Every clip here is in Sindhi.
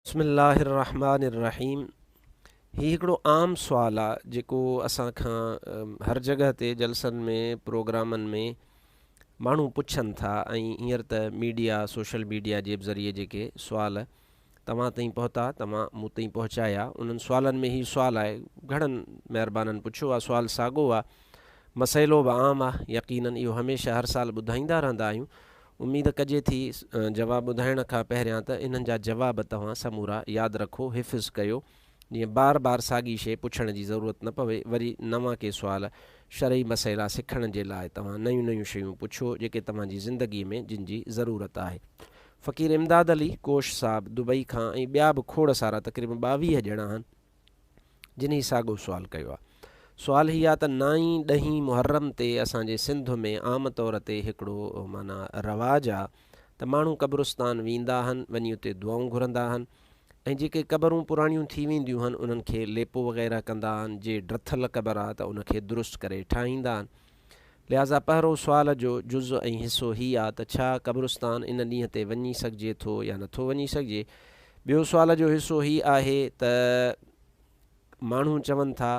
بسم الله الرحمٰن الرحيم هي هڪڙو عام سوال آ جيڪو اسان کان هر جڳهه تي جلسن ۾ پروگرامن ۾ ماڻهو پڇن ٿا ۽ هينئر ته ميڊيا سوشل ميڊيا جي ذريعي جيڪي سوال توهان تائين پهتا توهان مون تائين پهچايا انهن سوالن ۾ هي سوال آهي گهڻن مهربانن پڇيو آ سوال ساڳو آ مسئلو به عام آ يقينن اهو هميشه هر سال ٻڌائيندا رهندا آهيون اميد ڪجي ٿي جواب ٻڌائڻ کان پهريان ته انهن جا جواب توهان سمورا ياد رکو، حفظ ڪيو، جيئن بار بار ساڳي شيء پڇڻ جي ضرورت نه پوي، وري نوان ڪي سوال، شرعي مسئلا سکڻ جي لاء توهان نيون نيون شيون پڇو، جيڪي توهان جي زندگيء ۾ جن جي ضرورت آهي. فقير امداد علي ڪوش صاحب دبئي کان ۽ ٻيا به کوڙ سارا تقريبن ٻاويهه ڄڻا آهن. جنھن ساڳيو سوال ڪيو آ. سوال ھي آ ته نائين ڏھين محرم تي اسان جي سنڌ ۾ عام طور تي ھڪڙو معنيٰ رواج آ ته ماڻھو قبرستان ويندا ھن وڃي اتي دعائون گھرندا ھن ۽ جيڪي قبرون پراڻيون ٿي وينديون ھن انھن کي ليپو وغيره ڪندا ھن جي ڊٿل قبر آ ته ان کي درست ڪري ٺاھيندا ھن لهٰذا پهرئون سوال جو جز ۽ حصو هي آ ته ڇا قبرستان ان ڏينهن تي وڃي سگهجي ٿو يا نٿو وڃي سگهجي؟ ٻيو سوال جو حصو هي آهي ته ماڻهو چون ٿا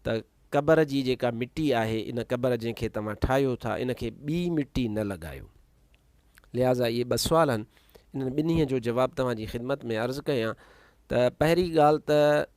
ته قبر جي جيڪا مٽي آهي ان قبر جنهن کي توهان ٺاهيو ٿا ان کي ٻي مٽي نه لڳايو. لهٰذا اهي ٻه سوال هن انهن ٻنهي جو جواب توهان جي خدمت ۾ عرض ڪيان ته پهرين ڳالهه ته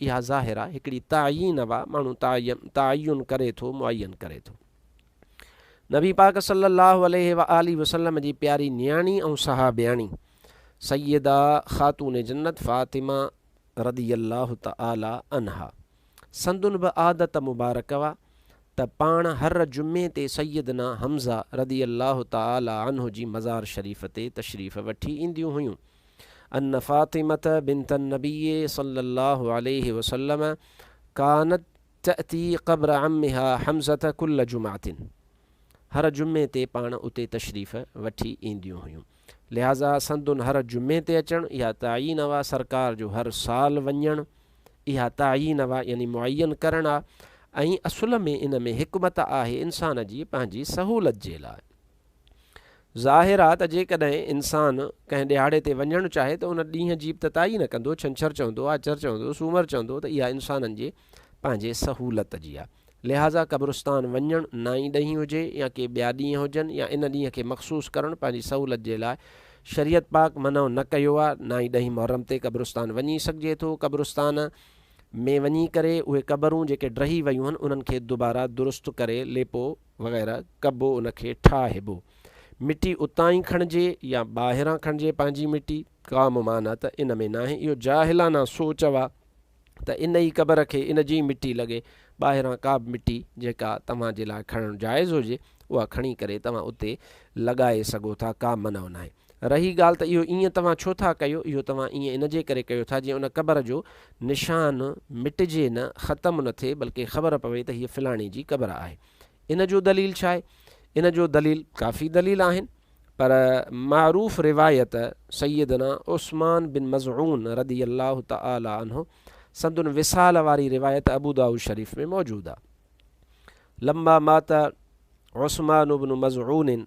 اها ظاهرا هڪڙي تعين وا ماڻهو تعين تعين ڪري ٿو معين ڪري ٿو نبي پاڪ صلي الله عليه واٰله وسلم جي پياري نياڻي ۽ صحابياڻي سيده خاتون جنت فاطمه رضي الله تعالٰي عنها سندن به عادت مبارڪ وا ته پاڻ هر جمعي تي سيدنا حمزه رضي الله تعالٰي عنه جي مزار شريف تي تشريف وٺي اينديون هيون ان فاطمة بنت النبي صلّي الله عليه وسلّم ڪانت تأتي قبر عمّها حمزة ڪلّ جمعة، هر جمعي تي پاڻ اتي تشريف وٺي اينديون هيون، لهٰذا سندن هر جمعي تي اچڻ اها تعين وا سرڪار جو هر سال وڃڻ اها تعين وا يعني معين ڪرڻ آ ۽ اصل ۾ ان ۾ حڪمت آهي انسان جي پنهنجي سهولت جي لاء. ظاهر آ ته جيڪڏهن انسان ڪنهن ڏيهاڙي تي وڃڻ چاهي ته ان ڏينهن جي ابتتائي نه ڪندو، ڇنڇر چوندو، آچر چوندو، سومر چوندو ته اها انسانن جي پنهنجي سهولت جي آ. لهٰذا قبرستان وڃڻ نائين ڏهين هجي يا ڪي ٻيا ڏينهن هجن يا ان ڏينهن کي مخصوص ڪرڻ پنهنجي سهولت جي لاء شريعت پاڪ منع نه ڪيو آ. نائين ڏهين محرم تي قبرستان وڃي سگهجي ٿو. قبرستان ۾ وڃي ڪري اهي قبرون جيڪي ڊهي ويون هن انهن کي دوباره درست ڪري ليپو وغيره ڪبو ان کي ٺاهبو. مٽي اتان ئي کڻجي يا ٻاهران کڻجي پنهنجي مٽي ڪا ممانعت ان ۾ ناهي اهو جاهلانه سوچ اهو ته ان ئي قبر کي ان جي ئي مٽي لڳي ٻاهران ڪا به مٽي جيڪا توهان جي لاء کڻڻ جائز هجي اها کڻي ڪري توهان اتي لڳائي سگهو ٿا ڪا منع ناهي. رهي ڳالهه ته اهو ايئن توهان ڇو ٿا ڪيو، اهو توهان ايئن ان جي ڪري ڪيو ٿا جيئن ان قبر جو نشان مٽجي نه، ختم نه ٿئي، بلڪه خبر پوي ته هيء فلاڻي جي قبر آهي. ان جو دليل ڇا آهي؟ ان جو دليل ڪافي دليل آهن، پر معروف روايت سيدنا عثمان بن مظعون رضي الله تعالٰي عنه سندن وصال واري روايت ابودائود شريف ۾ موجود آهي، لما مات عثمان بن مظعون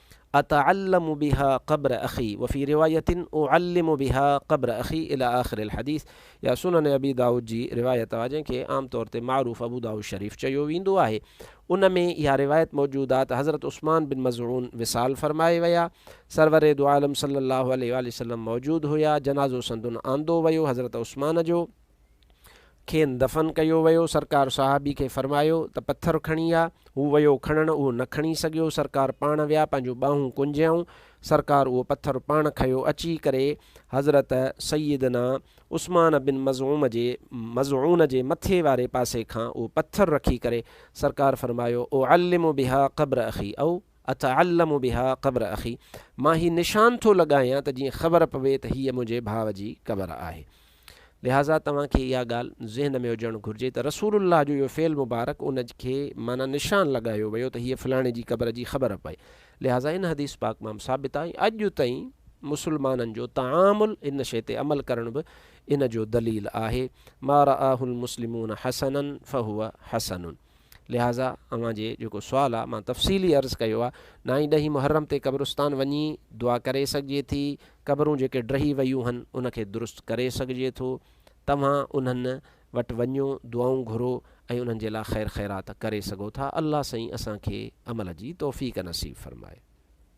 اتعلم بها قبر اخي وفي رواية اعلم بها قبر اخي الي آخر الحديث يا سنن ابي داؤد جي روايت آ جنهن کي عام طور تي معروف ابو داؤد شريف چيو ويندو آهي ان ۾ اها روايت موجود آ ته حضرت عثمان بن مظعون وصال فرمائي ويا سرور دو عالم صلي الله عليه واٰله وسلم موجود هيا جنازو سندن آندو ويو حضرت عثمان جو کين دفن ڪيو ويو، سرڪار صحابي کي فرمايو ته پٿر کڻي آ، هو ويو کڻڻ اهو نه کڻي سگهيو، سرڪار پاڻ ويا پنهنجون ٻانهون ڪنجيائون، سرڪار اهو پٿر پاڻ کنيو اچي ڪري حضرت سيدنا عثمان بن مظعوم جي مظعون جي مٿي واري پاسي کان اهو پٿر رکي ڪري سرڪار فرمايو اعلم بها قبر اخي او اتعلم بها قبر اخي مان هي نشان ٿو لڳايان ته جيئن خبر پوي ته هيء منهنجي ڀاء جي قبر آهي. لهٰذا توهان کي اها ڳالهه ذهن ۾ هجڻ گهرجي ته رسول الله جو اهو فعل مبارڪ ان کي معنيٰ نشان لڳايو ويو ته هيء فلاڻي جي قبر جي خبر پئي. لهٰذا ان حديث پاڪ مان ثابت آهي ۽ اڄ تائين مسلمانن جو تعامل ان شيء تي عمل ڪرڻ به ان جو دليل آهي، ما رآه المسلمون حسنا فهو حسن. لهٰذا اوهان جي جيڪو سوال آ مان تفصيلي عرض ڪيو آ نائين ڏهين محرم تي قبرستان وڃي دعا ڪري سگهجي ٿي قبرون جيڪي ڊهي ويون هن ان کي درست ڪري سگهجي ٿو توهان انهن وٽ وڃو دعائون گهرو ۽ انهن جي لاء خير خيرات ڪري سگهو ٿا الله سائين اسان کي عمل جي توفيق نصيب فرمائي.